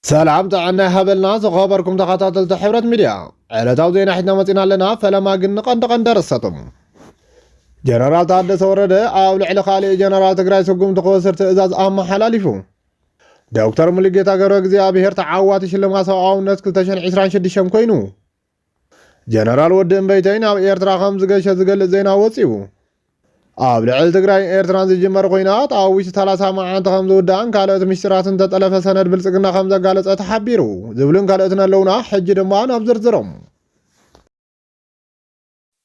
ሰላም ጥዕና ይሃበልና ዝኸበርኩም ተኻታተልቲ ሕብረት ሚድያ ዕለታዊ ዜና ሒትና መጺና ኣለና ፈለማ ግን ንቐንዲ ቀንዲ ኣርእስታቶም ጀነራል ታደሰ ወረደ ኣብ ልዕሊ ካልእ ጀነራል ትግራይ ስጉምቲ ክወስድ ትእዛዝ ኣመሓላሊፉ ዶክተር ሙሉጌታ ገብረ እግዚኣብሔር ተዓዋቲ ሽልማት ሰብኣውነት 2026 ኮይኑ ጀነራል ወዲ እምበይተይ ናብ ኤርትራ ከም ዝገሸ ዝገልጽ ዜና ወጺኡ። ኣብ ልዕሊ ትግራይን ኤርትራን ዝጅመር ኹናት ኣብ ውሽጢ ሰላሳ መዓንቲ ከም ዝውዳእን ካልኦት ምስጢራትን ዝተጠለፈ ሰነድ ብልጽግና ከም ዘጋለጸ ተሓቢሩ ዝብሉን ካልኦትን ኣለውና ሕጂ ድማ ናብ ዝርዝሮም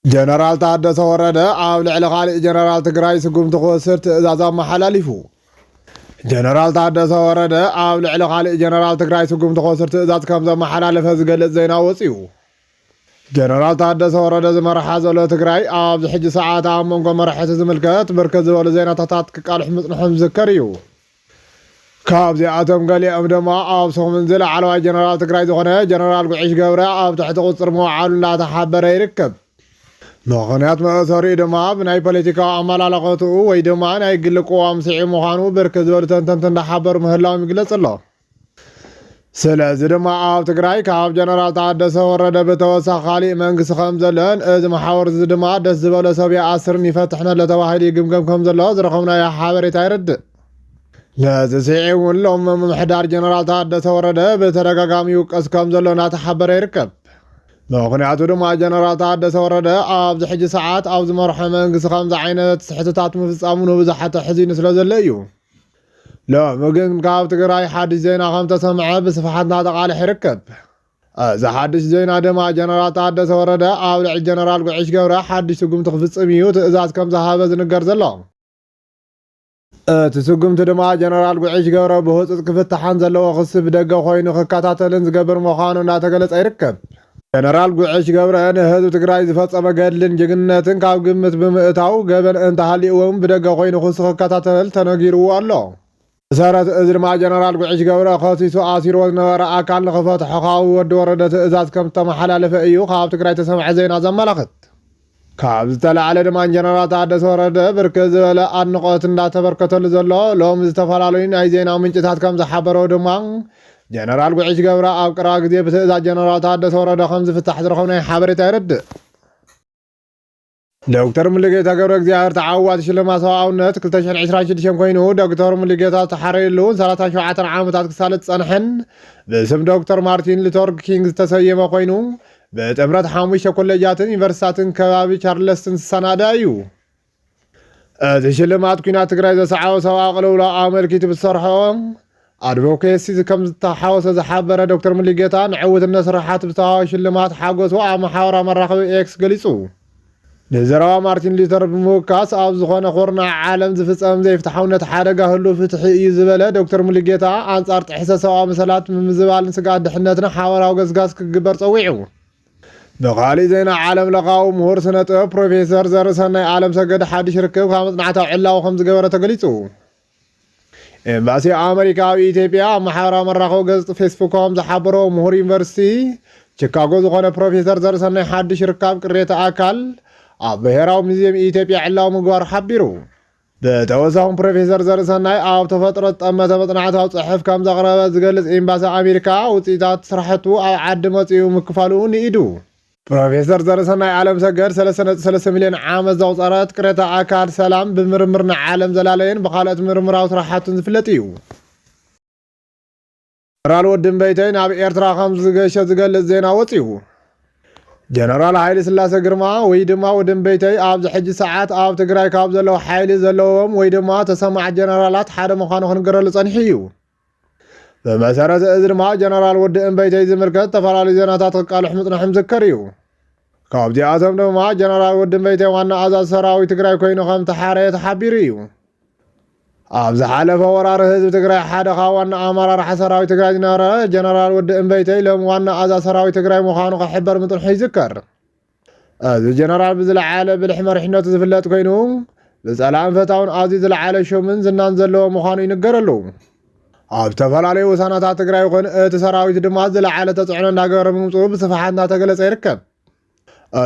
ጀነራል ታደሰ ወረደ ኣብ ልዕሊ ካሊእ ጀነራል ትግራይ ስጉምቲ ክወስድ ትእዛዝ ኣመሓላሊፉ። ጀነራል ታደሰ ወረደ ኣብ ልዕሊ ካሊእ ጀነራል ትግራይ ስጉምቲ ክወስድ ትእዛዝ ከም ዘመሓላለፈ ዝገልፅ ዜና ወፂኡ። ጀነራል ታደሰ ወረደ ዝመርሓ ዘሎ ትግራይ ኣብዚ ሕጂ ሰዓት ኣብ መንጎ መራሕቲ ዝምልከት ብርክት ዝበሉ ዜናታታት ክቃልሑ ምፅንሖም ዝዝከር እዩ። ካብዚኣቶም ገሊኦም ድማ ኣብ ሰሙን እዚ ላዕለዋይ ጀነራል ትግራይ ዝኾነ ጀነራል ጉዕሽ ገብረ ኣብ ትሕቲ ቁፅፅር ምውዓሉ እንዳተሓበረ ይርከብ። ምኽንያት መእሰሪኡ ድማ ብናይ ፖለቲካዊ ኣመላልኸትኡ ወይ ድማ ናይ ግሊ ቅዋም ስዒቡ ምዃኑ ብርክት ዝበሉ ተንተንቲ እንዳሓበሩ ምህላዎም ይግለፅ ኣሎ። ስለዚ ድማ ኣብ ትግራይ ካብ ጀነራል ታደሰ ወረደ ብተወሳኺ ካሊእ መንግስቲ ከም ዘለን እዚ መሓውር እዚ ድማ ደስ ዝበሎ ሰብ ይኣስርን ይፈትሕን ኣሎ ተባሂሉ ይግምገም ከም ዘሎ ዝረኸብናዮ ሓበሬታ የረድእ። ነዚ ስዒብ እውን ሎም ምምሕዳር ጀነራል ታደሰ ወረደ ብተደጋጋሚ ይውቀስ ከም ዘሎ እናተሓበረ ይርከብ። ምክንያቱ ድማ ጀነራል ታደሰ ወረደ ኣብዚ ሕጂ ሰዓት ኣብ ዝመርሖ መንግስቲ ከምዚ ዓይነት ስሕተታት ምፍፃሙ ንብዙሓት ኣሕዚኑ ስለ ዘሎ እዩ። ሎሚ ግን ካብ ትግራይ ሓድሽ ዜና ከም ተሰምዐ ብስፍሓት እናተቃልሐ ይርከብ። እዚ ሓድሽ ዜና ድማ ጀነራል ታደሰ ወረደ ኣብ ልዕሊ ጀነራል ጉዕሽ ገብረ ሓድሽ ስጉምቲ ክፍፅም እዩ ትእዛዝ ከም ዝሃበ ዝንገር ዘሎ። እቲ ስጉምቲ ድማ ጀነራል ጉዕሽ ገብረ ብህፁፅ ክፍታሕን ዘለዎ ክሲ ብደገ ኮይኑ ክከታተልን ዝገብር ምዃኑ እናተገለፀ ይርከብ። ጀነራል ጉዕሽ ገብረ ንህዝቢ ትግራይ ዝፈፀሞ ገድልን ጅግንነትን ካብ ግምት ብምእታው ገበን እንተሃልይዎ እውን ብደገ ኮይኑ ክሱ ክከታተል ተነጊርዎ ኣሎ። ብሰረት እዚ ድማ ጀነራል ጉዕሽ ገብረ ከሲሱ ኣሲርዎ ዝነበረ ኣካል ንክፈትሖ ካብ ወዲ ወረደ ትእዛዝ ከምዝተመሓላለፈ እዩ ካብ ትግራይ ዝተሰምዐ ዜና ዘመላኽት። ካብ ዝተላዕለ ድማ ጀነራል ታደሰ ወረደ ብርክት ዝበለ ኣድንቖት እንዳተበርከተሉ ዘሎ ሎሚ ዝተፈላለዩ ናይ ዜና ምንጭታት ከምዝሓበረዎ ድማ ጀነራል ጉዕሽ ገብረ ኣብ ቀረባ ግዜ ብትእዛዝ ጀነራል ታደሰ ወረደ ከምዝፍታሕ ዝረኸብናዮ ሓበሬታ የረድእ። ዶክተር ሙሉጌታ ገብረእግዚኣብሔር ተዓዋቲ ሽልማት ሰብኣውነት 2026 ኮይኑ ዶክተር ሙሉጌታ ዝተሓረየሉ ሰላሳን ሸውዓተን ዓመታት ክሳለጥ ዝፀንሐን ብስም ዶክተር ማርቲን ሉተር ኪንግ ዝተሰየመ ኮይኑ ብጥምረት ሓሙሽተ ኮሌጃትን ዩኒቨርሲታትን ከባቢ ቻርለስትን ዝሰናዳ እዩ። እቲ ሽልማት ኩናት ትግራይ ዘስዓቦ ሰብኣዊ ቅልውላው ኣመልኪቱ ብዝሰርሖ ኣድቮኬሲ ከምዝተሓወሰ ዝሓበረ ዶክተር ሙሉጌታ ንዕውትነት ስራሓት ብዝተዋህቦ ሽልማት ሓጎሱ ኣብ ማሕበራዊ መራኸቢ ኤክስ ገሊፁ። ንዘረባ ማርቲን ሉተር ብምውካስ ኣብ ዝኾነ ኩርናዕ ዓለም ዝፍፀም ዘይፍትሓውነት ሓደጋ ህሉ ፍትሒ እዩ ዝበለ ዶክተር ሙሉጌታ ኣንፃር ጥሕሰት ሰብኣዊ መሰላት ምምዝባልን ስግኣት ድሕነትን ሓበራዊ ገስጋስ ክግበር ፀዊዑ። ብኻሊእ ዜና ዓለም ለኻዊ ምሁር ስነ ጥበብ ፕሮፌሰር ዘርሰናይ ኣለምሰገድ ሓዱሽ ርክብ ካብ መፅናዕታዊ ዕላዊ ከምዝገበረ ተገሊፁ። ኤምባሲ ኣመሪካ ኣብ ኢትዮጵያ ኣብ ማሕበራዊ መራኸቢ ገጽ ፌስቡክ ከም ዝሓበሮ ምሁር ዩኒቨርሲቲ ቺካጎ ዝኾነ ፕሮፌሰር ዘርሰናይ ሓድሽ ርካብ ቅሬታ ኣካል ኣብ ብሔራዊ ሙዚየም ኢትዮጵያ ዕላዊ ምግባሩ ሓቢሩ። ብተወሳኹን ፕሮፌሰር ዘርሰናይ ኣብ ተፈጥሮ ዝጠመተ መጽናዕታዊ ጽሑፍ ከም ዘቕረበ ዝገልጽ ኤምባሲ ኣሜሪካ ውጽኢታት ስራሕቱ ኣብ ዓዲ መጺኡ ምክፋሉ ንኢዱ። ፕሮፌሰር ዘርሰናይ ኣለምሰገድ ሰለስተ ነጥቢ ሰለስተ ሚልዮን ዓመት ዘቑፀረት ቅሬታ ኣካል ሰላም ብምርምር ንዓለም ዘላለየን ብካልኦት ምርምራዊ ስራሕቱን ዝፍለጥ እዩ። ጀነራል ወዲ እምበይተይ ናብ ኤርትራ ከም ዝገሸ ዝገልጽ ዜና ወጺኡ። ጀነራል ሃይለ ስላሰ ግርማ ወይ ድማ ወዲ እምበይተይ ኣብዚ ሕጂ ሰዓት ኣብ ትግራይ ካብ ዘለዉ ሓይሊ ዘለዎም ወይ ድማ ተሰማዕት ጀነራላት ሓደ ምዃኑ ክንገረሉ ጸኒሑ እዩ። ብመሰረት እዚ ድማ ጀነራል ወዲ እምበይተይ ዝምልከት ዝተፈላለዩ ዜናታት ክቃልሕ ምጽናሕም ዝከር እዩ። ካብዚኣቶም ድማ ጀነራል ወዲ እምበይተይ ዋና ኣዛዝ ሰራዊት ትግራይ ኮይኑ ከም ተሓረየ ተሓቢሩ እዩ። ኣብ ዝሓለፈ ወራር ህዝቢ ትግራይ ሓደ ካብ ዋና ኣመራርሓ ሰራዊት ትግራይ ዝነበረ ጀነራል ወዲ እምበይተይ ሎሚ ዋና ኣዛ ሰራዊት ትግራይ ምዃኑ ክሕበር ምፅንሑ ይዝከር። እዚ ጀነራል ብዝለዓለ ብልሒ መሪሕነቱ ዝፍለጥ ኮይኑ ብፀላእን ፈታውን ኣዝዩ ዝለዓለ ሹምን ዝናን ዘለዎ ምዃኑ ይንገረሉ። ኣብ ዝተፈላለዩ ውሳናታት ትግራይ ይኹን እቲ ሰራዊት ድማ ዝለዓለ ተፅዕኖ እንዳገበረ ምምፅኡ ብስፍሓት እንዳተገለፀ ይርከብ።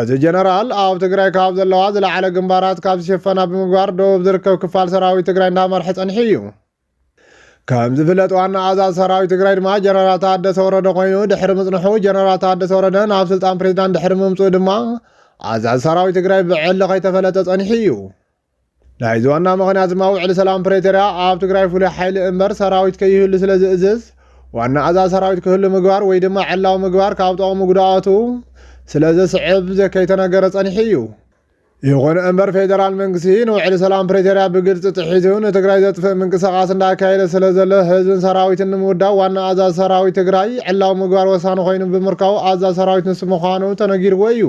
እቲ ጀነራል ኣብ ትግራይ ካብ ዘለዋ ዝለዓለ ግንባራት ካብ ዝሸፈና ብምግባር ደቡብ ዝርከብ ክፋል ሰራዊት ትግራይ እንዳመርሐ ፀኒሑ እዩ። ከም ዝፍለጥ ዋና ኣዛዝ ሰራዊት ትግራይ ድማ ጀነራል ታደሰ ወረደ ኮይኑ ድሕሪ ምፅንሑ ጀነራል ታደሰ ወረደ ናብ ስልጣን ፕሬዚዳንት ድሕሪ ምምፅኡ ድማ ኣዛዝ ሰራዊት ትግራይ ብዕሊ ከይተፈለጠ ፀኒሑ እዩ ናይዚ ዋና ምክንያት ድማ ውዕሊ ሰላም ፕሬቶርያ ኣብ ትግራይ ፍሉይ ሓይሊ እምበር ሰራዊት ከይህሉ ስለ ዝእዝዝ ዋና ኣዛዝ ሰራዊት ክህሉ ምግባር ወይ ድማ ዕላዊ ምግባር ካብ ጠቕሙ ጉድኣቱ ስለ ዘስዕብ ከይተነገረ ፀኒሑ እዩ ይኹን እምበር ፌዴራል መንግስቲ ንውዕሊ ሰላም ፕሪቶርያ ብግልፂ ጥሒሱ ንትግራይ ዘጥፍእ ምንቅስቓስ እንዳካየደ ስለ ዘሎ ህዝብን ሰራዊትን ንምውዳብ ዋና ኣዛዚ ሰራዊት ትግራይ ዕላዊ ምግባር ወሳኒ ኮይኑ ብምርካቡ ኣዛዚ ሰራዊት ንሱ ምዃኑ ተነጊርዎ እዩ።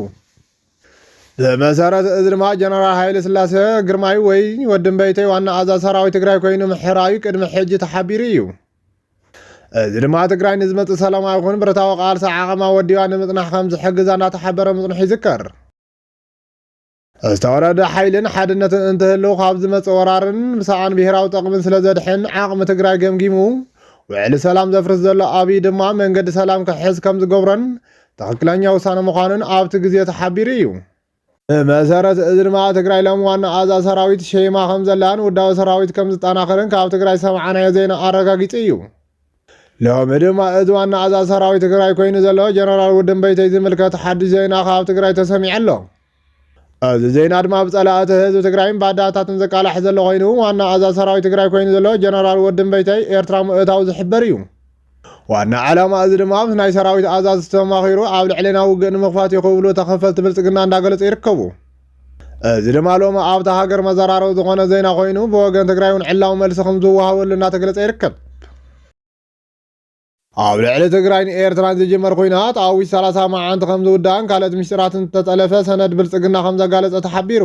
ብመሰረት እዚ ድማ ጀነራል ሃይለ ስላሴ ግርማይ ወይ ወዲ እምበይተይ ዋና ኣዛዚ ሰራዊት ትግራይ ኮይኑ ምሕራዩ ቅድሚ ሕጂ ተሓቢሩ እዩ። እዚ ድማ ትግራይ ንዝመፅእ ሰላማዊ ይኹን ብረታዊ ቃልሲ ዓቐማ ወዲባ ንምፅናሕ ከም ዝሕግዛ እንዳተሓበረ ምፅንሑ ይዝከር። ዝተወረደ ሓይልን ሓድነትን እንትህልው ካብ ዝመፀ ወራርን ብሰኣን ብሄራዊ ጠቕምን ስለዘድሕን ዓቕሚ ትግራይ ገምጊሙ ውዕሊ ሰላም ዘፍርስ ዘሎ ኣብይ ድማ መንገዲ ሰላም ክሕዝ ከም ዝገብሮን ትኽክለኛ ውሳነ ምዃኑን ኣብቲ ግዜ ተሓቢሩ እዩ። ብመሰረት እዚ ድማ ኣብ ትግራይ ሎም ዋና ኣዛዝ ሰራዊት ሸይማ ከም ዘላን ውዳዊ ሰራዊት ከም ዝጠናኸርን ካብ ትግራይ ዝሰማዕናዮ ዜና ኣረጋጊፁ እዩ። ሎሚ ድማ እቲ ዋና ኣዛዚ ሰራዊት ትግራይ ኮይኑ ዘሎ ጀነራል ውድንበይተይ ዝምልከት ሓዱሽ ዜና ካብ ትግራይ ተሰሚዑ ኣሎ። እዚ ዜና ድማ ብፀላእቲ ህዝቢ ትግራይን ባዳታትን ዝቃላሕ ዘሎ ኮይኑ ዋና ኣዛዚ ሰራዊት ትግራይ ኮይኑ ዘሎ ጀነራል ውድንበይተይ ኤርትራ ምእታው ዝሕበር እዩ። ዋና ዕላማ እዚ ድማ ምስ ናይ ሰራዊት ኣዛዝቲ ተማኺሩ ኣብ ልዕሌና ውግእ ንምኽፋት እዩ ክብሉ ተኸፈልቲ ብልፅግና እንዳገለፁ ይርከቡ። እዚ ድማ ሎሚ ኣብታ ሃገር መዘራረቢ ዝኾነ ዜና ኮይኑ ብወገን ትግራይ እውን ዕላዊ መልሲ ከም ዝወሃበሉ እናተገለጸ ይርከብ። ኣብ ልዕሊ ትግራይን ኤርትራን ዝጅመር ኩናት ኣብ ውሽጢ 30 መዓንቲ ከም ዝውዳእን ካልኦት ምስጢራትን ዝተጠለፈ ሰነድ ብልፅግና ከም ዘጋለፀ ተሓቢሩ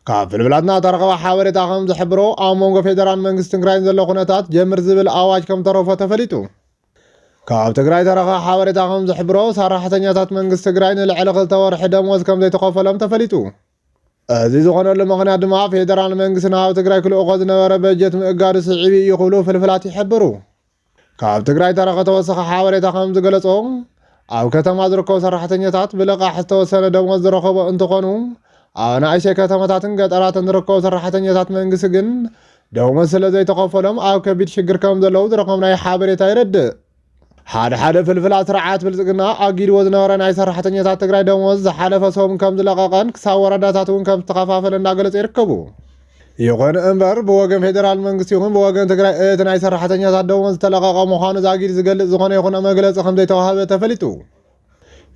ካብ ፍልፍላትና ተረኸበ ሓበሬታ ከም ዝሕብሮ ኣብ መንጎ ፌደራል መንግስቲ ትግራይን ዘሎ ኩነታት ጀምር ዝብል ኣዋጅ ከም ተረፎ ተፈሊጡ ካብ ትግራይ ዝተረኸ ሓበሬታ ከምዝሕብሮ ሰራሕተኛታት መንግስቲ ትግራይ ንልዕሊ ክልተ ወርሒ ደሞዝ ከምዘይተኸፈሎም ተፈሊጡ። እዚ ዝኾነሉ ምኽንያት ድማ ፌደራል መንግስቲ ናብ ትግራይ ክልእኾ ዝነበረ በጀት ምእጋዱ ስዒቡ ኢዩ ክብሉ ፍልፍላት ይሕብሩ። ካብ ትግራይ ዝተረኸ ተወሳኺ ሓበሬታ ከምዝገለፆ፣ ኣብ ከተማ ዝርከቡ ሰራሕተኛታት ብልቓሕ ዝተወሰነ ደሞዝ ዝረኸቡ እንትኾኑ፣ ኣብ ኣናእሽተይ ከተማታትን ገጠራትን ዝርከቡ ሰራሕተኛታት መንግስቲ ግን ደሞዝ ስለዘይተኸፈሎም ኣብ ከቢድ ሽግር ከምዘለዉ ዝረኸብናዮ ሓበሬታ የረድእ። ሓደ ሓደ ፍልፍላት ስርዓት ብልፅግና ኣጊድዎ ዝነበረ ናይ ሰራሕተኛታት ትግራይ ደሞዝ ዝሓለፈ ሰሙን ከምዝለቐቐን ክሳብ ወረዳታት እውን ከምዝተኸፋፈለ እንዳገለፁ ይርከቡ። ይኹን እምበር ብወገን ፌዴራል መንግስቲ ይኹን ብወገን ትግራይ እቲ ናይ ሰራሕተኛታት ደሞዝ ዝተለቐቐ ምዃኑ ዛጊድ ዝገልፅ ዝኾነ ይኹን መግለፂ ከምዘይተዋህበ ተፈሊጡ።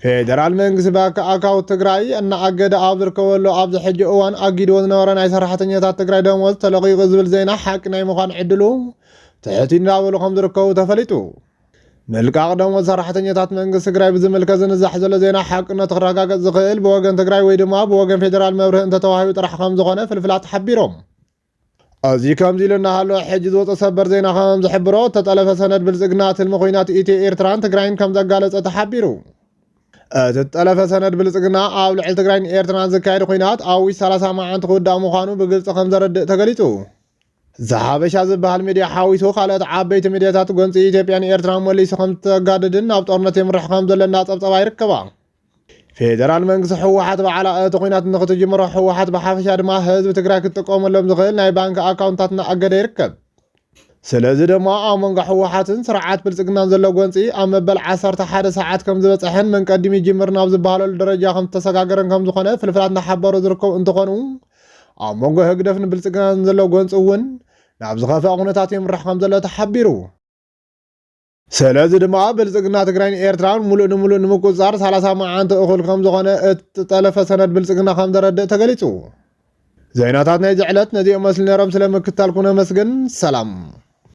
ፌዴራል መንግስቲ ባንኪ ኣካውንት ትግራይ እናኣገደ ኣብ ዝርከበሉ ኣብዚ ሕጂ እዋን ኣጊድዎ ዝነበረ ናይ ሰራሕተኛታት ትግራይ ደሞዝ ተለቒቑ ዝብል ዜና ሓቂ ናይ ምዃን ዕድሉ ትሑት እዩ እንዳበሉ ከምዝርከቡ ተፈሊጡ። ምልቃቕ ደሞዝ ሰራሕተኛታት መንግስቲ ትግራይ ብዝምልከት ዝንዛሕ ዘሎ ዜና ሓቅነቱ ክረጋገፅ ዝኽእል ብወገን ትግራይ ወይ ድማ ብወገን ፌዴራል መብርሂ እንተተዋሂቡ ጥራሕ ከምዝኾነ ፍልፍላት ሓቢሮም። እዚ ከምዚ ኢሉ እናሃለወ ሕጂ ዝወፀ ሰበር ዜና ከምዝሕብሮ እተጠለፈ ሰነድ ብልፅግና ትልሚ ኹናት ኢትዮ ኤርትራን ትግራይን ከምዘጋለፀ ተሓቢሩ። እቲ ዝጠለፈ ሰነድ ብልፅግና ኣብ ልዕሊ ትግራይን ኤርትራን ዝካየድ ኹናት ኣብ ውሽጢ 30 መዓንቲ ክውዳእ ምዃኑ ብግልፂ ከምዘረድእ ተገሊፁ። ዘሓበሻ ዝበሃል ሚድያ ሓዊሱ ካልኦት ዓበይቲ ሚድያታት ጎንፂ ኢትዮጵያ ንኤርትራ መሊሱ ከም ዝተጋደድን ናብ ጦርነት የምርሕ ከም ዘሎ እናፀብፀባ ይርከባ። ፌደራል መንግስቲ ህወሓት በዓላ እቲ ኩናት ንክትጅምሮ ህወሓት ብሓፈሻ ድማ ህዝቢ ትግራይ ክትጥቀመሎም ዝኽእል ናይ ባንኪ ኣካውንታት እናኣገደ ይርከብ። ስለዚ ድማ ኣብ መንጎ ህወሓትን ስርዓት ብልፅግናን ዘሎ ጎንፂ ኣብ መበል ዓሰርተ ሓደ ሰዓት ከም ዝበፀሐን መን ቀዲሙ ይጅምር ናብ ዝበሃለሉ ደረጃ ከም ዝተሰጋገረን ከም ዝኾነ ፍልፍላት እናሓበሩ ዝርከቡ እንትኾኑ ኣብ መንጎ ህግደፍ ንብልፅግናን ዘሎ ጎንፂ እውን ናብ ዝኸፍኣ ኩነታት የምርሕ ከምዘሎ ተሓቢሩ። ስለዚ ድማ ብልፅግና ትግራይን ኤርትራን ሙሉእ ንሙሉእ ንምቁፅፃር ሰላሳ መዓንቲ እኹል ከምዝኾነ እቲ ጠለፈ ሰነድ ብልፅግና ከምዘረድእ ተገሊፁ። ዜናታት ናይዚ ዕለት ነዚኦም መስሊ ነይሮም ስለምክትታልኩም ነመስግን ሰላም።